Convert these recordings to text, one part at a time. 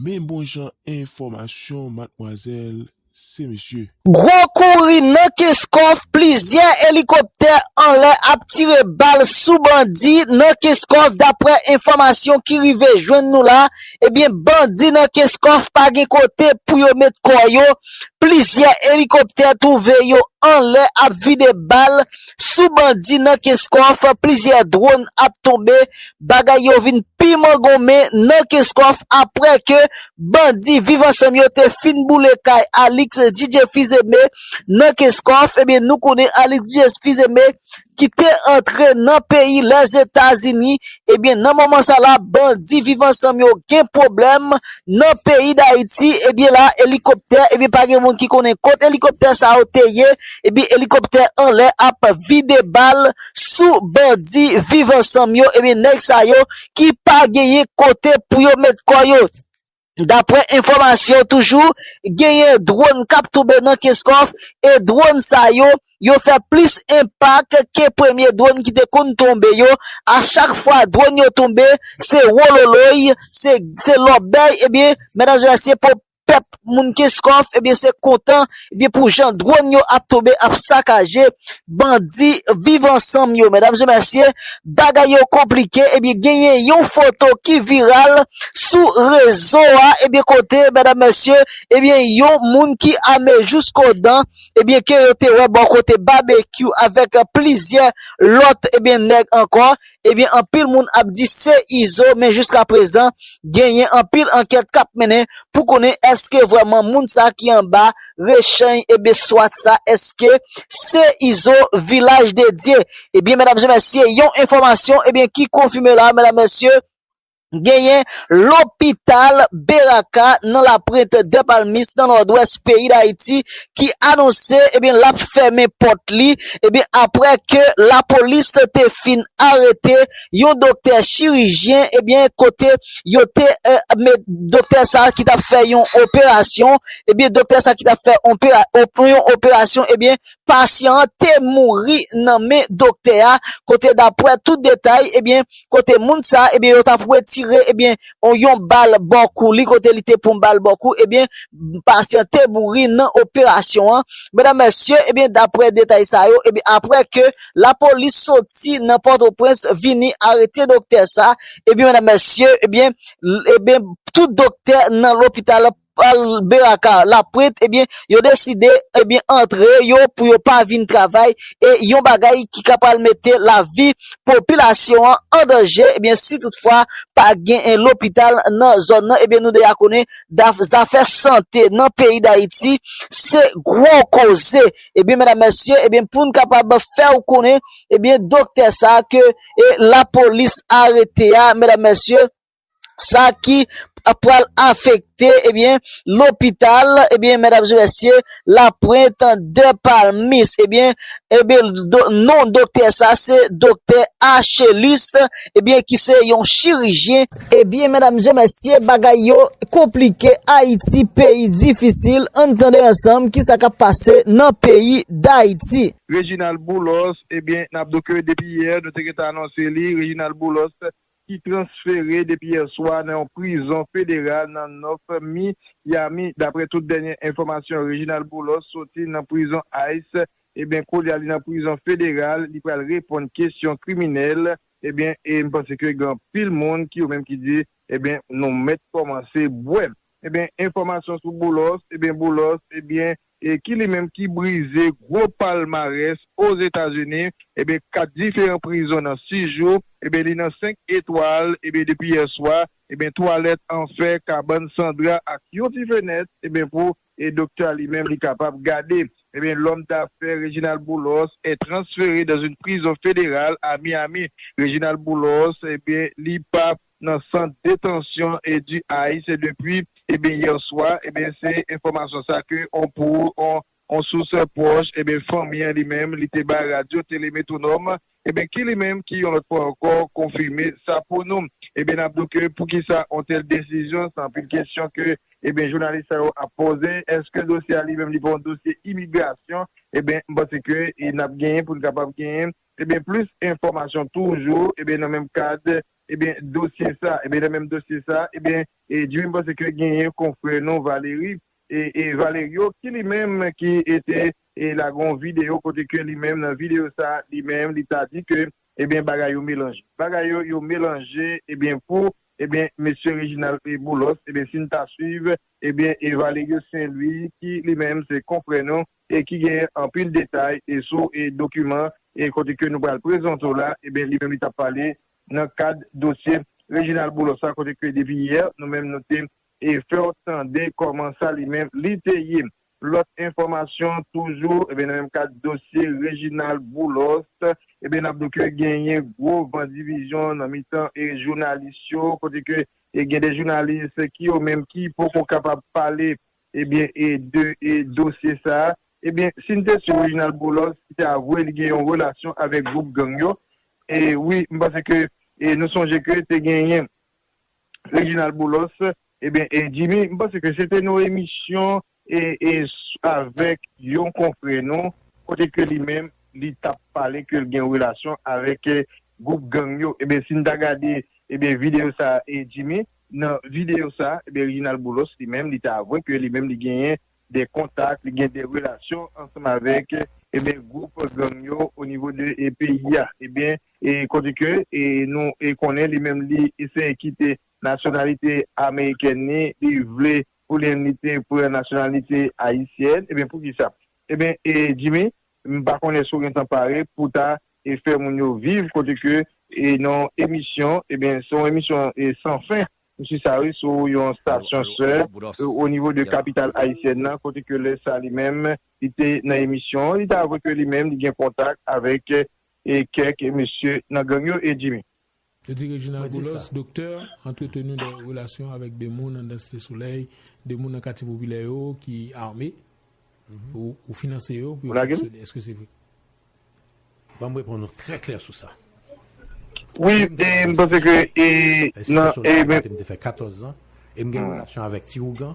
Men bon jan enfòmasyon matmwazèl se mesye. Gwo kouri nan Kenskòf, plizyè elikoptè anlè ap tire bal sou bandi nan Kenskòf daprè enfòmasyon ki rive jwenn nou la, ebyen bandi nan Kenskòf pa gen kote pou yo met kò yo, plizyè elikoptè twouve yo anlè ap vide bal sou bandi nan Kenskòf plizyè dwon ap tonbe bagay yo vin pi mangonmen nan Kenskòf aprè ke bandi viv ansanm yo te fin boule kay Alix DJ Fizeme nan Kenskòf ebyen nou konnen Alix DJ Fizeme ki te antre nan peyi Lèzetazini ebyen nan moman sa la bandi viv ansanm yo gen pwoblèm nan peyi Dayiti ebyen la elikoptè ebyen pa gen moun ki konnen kot elikoptè sa yo te ye. Ebyen elikoptè anlè ap vide bal sou bandi viv ansanm yo ebyen nèg sa yo ki pa genyen kote pou yo met kò yo daprè enfòmasyon toujou genyen dwòn kap tonbe nan kenskòf e dwòn sa yo yo fè plis enpak ke premye dwòn ki te konn tonbe yo a chak fwa dwòn yo tonbe se wololoy se lòbèy ebyen mèdam e mesye pèp moun kenskòf ebyen se kontan ebyen pou jan dwòn yo ap tonbe ap sakaje bandi viv ansanm yo medam e mesye bagay yo konplike ebyen genyen yon foto ki viral sou rezo a ebyen kote medam e mesye ebyen yon moun ki ame jousko dan ebyen ke yo te wè bò kote babekyou avèk plizyè lòt ebyen nèg ankò Ebyen anpil moun ap di se Izo men jiska prezan genyen anpil ankèt kap mennen pou konnen eske vrèman moun sa ki anba rechany ebyen swat sa eske se Izo vilaj dedye ebyen medam e mesye yon enfòmasyon ebyen ki konfime la medam mesye. Genyen lopital Beraka nan Laprint Dèpalmis nan Nòdwès peyi Dayiti ki anonse ebyen lap fèmen pòt li ebyen aprè ke lapolis te fin arete yon doktè chirijyen ebyen kote yo te met doktè sa ki tap fè yon operasyon ebyen doktè sa ki tap fè yon operasyon ebyen pasyan an te mouri nan men doktè a kote daprè tout detay ebyen. kote moun sa e byen yo tap retire e byen on yon bal bò kou li kote li te pran bal bò kou e byen pasyan te mouri nan operasyon an medam mesye e byen daprè detay sa yo e byen aprè ke la polis soti nan pòtoprens vini arete doktè sa e byen medam mesye e byen e byen tout doktè nan lopital pral beraka la print ebyen yo deside ebyen antre yo pou yo pa vin travay e yon bagay ki ka pral mete lavi popilasyon an an danje ebyen si tout fwa pa gen en lopital nan zòn nan ebyen nou deja konnen daf zafè sante nan peyi dayiti se gwo koze ebyen medam mesye ebyen poun kapab fèw konnen ebyen doktè sa ke e lapolis arete a medam mesye. sa ki pral afekte ebyen lopital ebyen medam zye mesye la pwent de palmis ebyen ebyen non doktè sa se doktè achelis ebyen ki se yon chirijyen ebyen medam zye mesye bagay yo konplike ayiti peyi difisil an tande ansanm ki sa kap pase nan peyi dayiti. Reginald Boulos, ebyen nap do ke depi yè nou te gentan anonse li, Reginald Boulos ki transfere depi yè swa nan yon prizon federal nan North Miami. Daprè tout dènye enfòmasyon Reginald Boulos soti nan prizon ice ebyen koulye a li nan prizon federal li pral reponn kesyon kriminèl ebyen e m panse ke gen anpil moun ki yo menm ki di ebyen nou mèt kòmanse bwè. Ebyen enfòmasyon sou Boulos, ebyen Boulos ebyen ki li menm ki brize gwo palmarès Ozetazini, ebyen 4 diferan prizon nan 6 jou, ebyen li nan 5 etwal, ebyen depi yè swa, ebyen twalèt an fè, kabann san dra ak yon ti fenèt, ebyen pou doktè a li menm li kapab gade. Ebyen lòm dafè Reginald Boulos est transfere dans une prison fédérale à Miami. Reginald Boulos ebyen li pa nan sant detansyon du Haye se depui ebyen yè swa ebyen se enfòmasyon sa ke on pou on on sous pwòch ebyen fanmi an li menm li te bay radyo tele metwonòm ebyen ki li menm ki yon lòt fwa ankò konfime sa pou nou ebyen nap di w ke pou kisa on tèl desizyon se anpil kesyon ke ebyen jounalis sa yo ap poze eske dosye a li menm li pa yon dosye imigrasyon ebyen m panse ke e nap genyen pou n kapab genyen ebyen plis enfòmasyon toujou ebyen nan menm kad Ebyen dosye sa, ebyen nan menm dosye sa, ebyen Djimi m panse ke genyen konfrè nou Valéry, e Valerio ki li menm ki te lage yon video kote ke li menm nan video sa li menm li ta di ke ebyen bagay yo melanje. Bagay yo yo melanje ebyen pou ebyen mesye Reginald Boulos ebyen si n ta swiv ebyen e Valerio Saint Louis ki li menm se konfrè nou e ki genyen anpil detay e sou e dokiman e kote ke nou pral prezante w la eben li menm li t ap pale nan kad dosye Reginald Boulos la kote ke depi yè nou menm nou te e fè w tande kòman sa li menm li te ye. Lòt enfòmasyon toujou eben nan menm kad dosye Reginald Boulos eben n ap di w ke genyen gwo van divizyon nan mitan e jounalis yo kote ke e gen de jounalis ki yo menm ki poko kapab pale Ebyen e de e dosye sa? Ebyen si n te su Reginald Boulos te avwe li gen yon relasyon avèk gwoup gang yo e wi m panse ke e nou sonje ke te genyen Reginald Boulos ebyen e Jimmy m panse ke se te nou emisyon e e avèk yon konfrè nou kote ke li menm li t ap pale ke l gen relasyon avèk gwoup gang yo ebyen si n ta gade ebyen videyo sa e Jimmy. Nan videyo sa, ebyen Reginald Boulos li menm li te avwe ke li menm li genyen de kontak, li gen de relasyon ansanm avèk ebyen gwoup gang yo o nivo de peyi a. Ebyen e kote ke e nou e konnen li menm li eseye kite nasyonalite amerikèn ni, li vle pou li menm li te pran nasyonalite ayisyèn, ebyen poukisa? Ebyen e Jimmy M pa konnen si w gentan pare pou w ta fè moun yo viv kote ke nan yon emisyon, ebyen se yon emisyon san fen m su sa wi, sou yon stasyon sè o nivo de kapital ayisyèn nan kote ke lè sa li menm li te nan emisyon an li te avwe ke li menm li gen kontak avèk kèk mesye nan gang yo e Jimmy. Yo di Reginald Boulos, Doktè, antreteni de relasyon avèk de moun anndan Site Solèy, de moun nan katye popilè yo ki ame, ou finanse yo pou yo fonksyone. Eske se vre? Ban m reponn ou trè klè sou sa. Wi, e m panse ke e nan. Site Solèy a kote m te fè 14 zan e m gen relasyon avèk ti Ougan.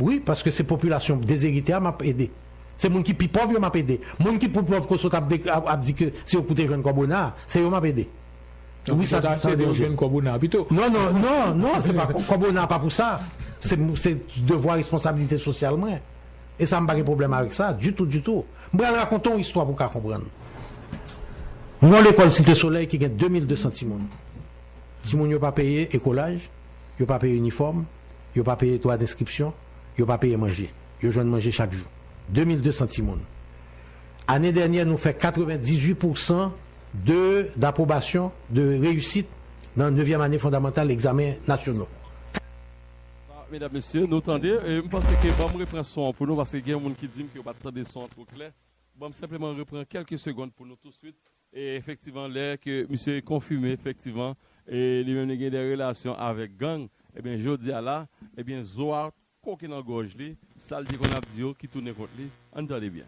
Wi paske se popilasyon dezerite a map ede. Se moun ki pi pòv yo map ede. Moun ki pou pòv ko sot ap di ke se yo pou te jwenn kòb ona a, se yo map ede. Donk ou ta ap ede yo jwenn kòb ona a pito. Non non non non se pa kòb ona a pa pou sa. Se devwa responsabilite sosyal mwen. E sa m pa gen pwoblèm avèk sa ditou ditou. M pral rakonte w istwa pou w ka konprann. Yon lekòl Site Solèy ki gen 2200 timoun. Timoun yo pa peye ekolaj. Yo pa peye inifòm, yo pa peye dwa denskripsyon, yo pa peye manje. Yo jwenn manje chak jou. 2200 timoun. Ane dènyè nou fè 98 pou san de dapwobasyon, de reyisit nan nevyèm ane fondamantal egzamen nasyono. Medam mesye nou tande e m panse ke banm repran son an pou nou paske gen yon moun ki dim ke yo pat tande son an two klè banm senpleman repran kelke segond pou nou touswit E efektivan lè ke misye konfime efektivan e li menm li gen de relasyon avek gang ebyen jodia la ebyen zo a koke nan gòj li sal te konn ap di yo ki tounen kont li ann tande byen.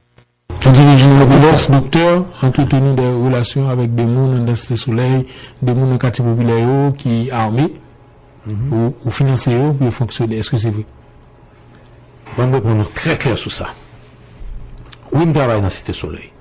Pou dirije Robinos Doktè antreteni de relasyon avek de moun andan Site Solèy, de moun nan katye popilè yo ki ame ou finanse yo pou yo fonksyone eske se vre? Banm reponn ou trè klè sou sa. Wi m travay nan Site Solèy.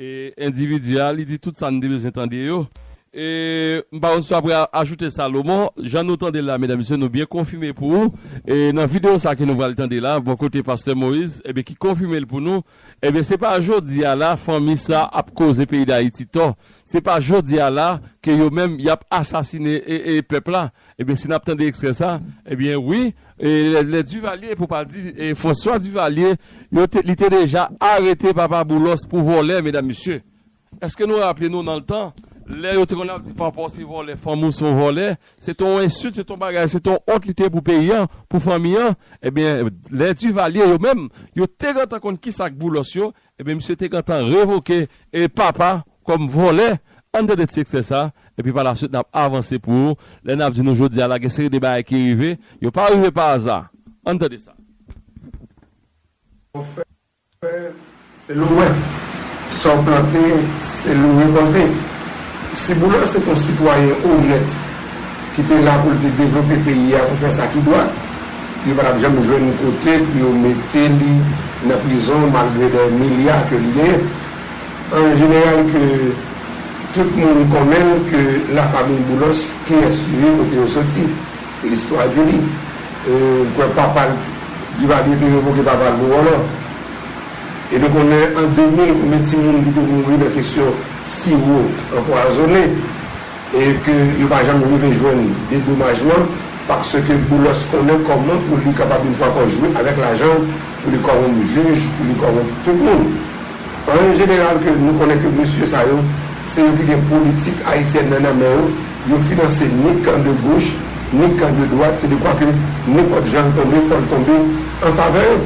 Endividi a, li di tout sa n te bezwen tande yo. E m pa konn si w apre ajoute Salomon, jan nou tande l la medam mesye nou byen konfime pou ou e nan videyo sa ke nou pral tande la bò kote pastè Moïse ebyen ki konfime l pou nou ebyen se pa jodi a la fanmi sa ap koze peyi Dayiti tò se pa jodi a la ke yo menm y ap asasine e e pèp la. Ebyen si nap tande ekstrè sa, ebyen wi, lè Duvalier pou pa di François Duvalier, yo te, li te deja arete papa Boulos pou vòlè medam mesye. Eske nou raple nou nan ltan, lè yo te konn ap di papa w se vòlè, fanmi w se yon vòlè, se te yon ensilt, se te yon bagay, se te yon ont li te ye pou peyi an, pou fanmi an, ebyen lè Duvalier yo menm, yo te gentan konn kisa k Boulos yo, Ebyen misye te gentan revoke e papa kòm vòlè anndan 2 ti eksè sa epi pa la swit nap avanse pou ou lè nap di nou jodi a la gen seri de bagay ki rive yo pa rive pa aza ann tande sa. Sa w fè se l ou wè, sa w plante se l ou rekòlte, Ciboulin se t on sitwayen onèt. ki te la pou l te devlope peyi a pou fè sa ki dwat, yo pa t ap janm jwenn kote pou yo mete li nan prizon malgre dè milya ke li genyen. An jeneral ke tout moun konnen l ke la famiy Boulos kiyès yo ye, kote yo soti, listwa di li. M kwè papa l, Divalye te revoke papa l pou vòlò. E nou konnen an 2000 konbyen timoun ki te mouri nan kesyon siwo anpwazone. e ke yo pa janm rive jwenn dedomajman paske Boulos konnen kòman pou li kapab yon fwa ankò jwe avèk lajan l pou li kòwonp jij, pou li kòwonp tout moun. An jeneral ke nou konnen ke mesye sa yo se yo ki gen politik ayisyèn nan nan men yo, yo finanse ni kan de goch, ni kan de dwat, se dekwa ke nenpòt jan l tonbe fò l tonbe an favè yo.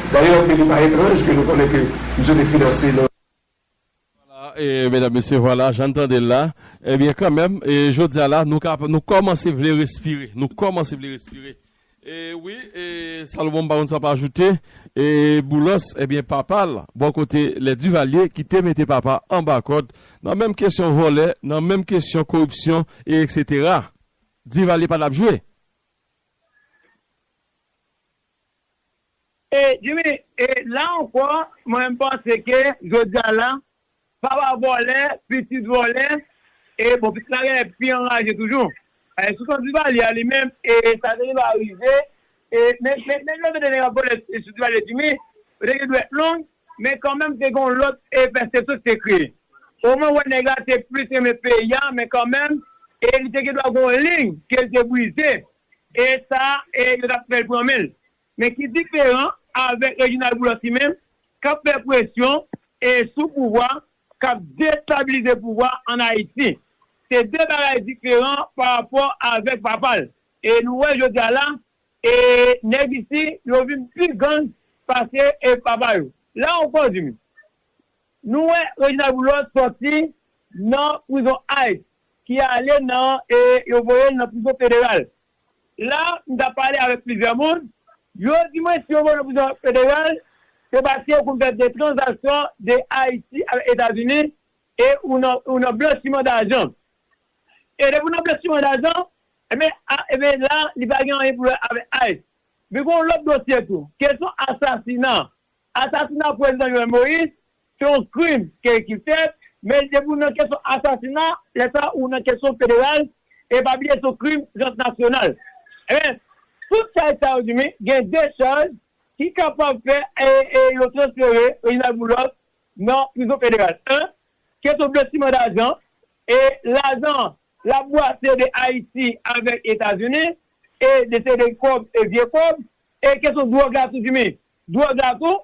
Dayè ke li pa etranj ke nou konnen ke misye te finanse nan. Vwala e medam mesye vwala jan n tande l la ebyen kanmenm e jodi a la nou ka nou kòmanse vle respire nou kòmanse vle respire e wi e Salomon m pa konn sa w ap ajoute e Boulos ebyen papa l bò kote lè Duvalier ki te mete papa anba kòd nan menm kesyon vòlè nan menm kesyon koripsyon e eksetera Duvalier pa t ap jwe. E Jimmy, e la ankò, mwen menm panse ke jodi a la, papa vòlè, pitit vòlè, e bon pitit la genlè pi anraje toujou. E sou kan Duvalier a li menm, e sa te rive arive, e men men men lè yo te nèg ap vòlè sou Duvalier Jimmy, yo te gen dwèt long, men kan menm te gen yon lòt e pèsepsyon ki te kreye. O mwen wè nèg la te plis renmen peyi a, men kan menm, e li te gen dwa gen yon liy ke li te brize. E sa e yo tap fèl pran menl. Men ki diferan avèk Reginald Boulos li menm kap fè presyon e sou pouvwa kap destabilize pouvwa an Ayiti. Se 2 bagay diferan pa rapò avèk papal. E nou wè jodi a la e nèg isi yo vin pi gang pase e papa yo. La ankò Jimmy nou wè Reginald Boulos sòti nan prizon Ice. ki ale nan e yo voye l nan prizon federal. La, m t ap pale avèk plizyè moun, yo di mwen si yo voye l nan prizon federal, se paske ou konn fè de tranzaksyon de Ayiti avèk Etazini e ou nan ou nan blanchiman dajan. E depi ou nan blanchiman dajan, enben a enben la li pa gen anyen pou wè avèk ice. Men gen yon lòt dosye tou, kesyon asasina. Asasina Prezidan Jovenel Moïse se yon krim ke ki fèt, men depi ou nan kesyon asasina, lè sa ou nan kesyon federal, e pa bliye se yon krim transnasyonal. Enben, tout chaj sa yo diminye, gen 2 chaj ki kapab fè e yo transfere Reginald Boulos nan prizon federal. 1, kesyon blanchiman dajan, e lajan an lap bwase de Ayiti avèk Etazini, e de se de kòb e vye kòb, e kesyon dwòg la tou diminye. Dwòg la tou,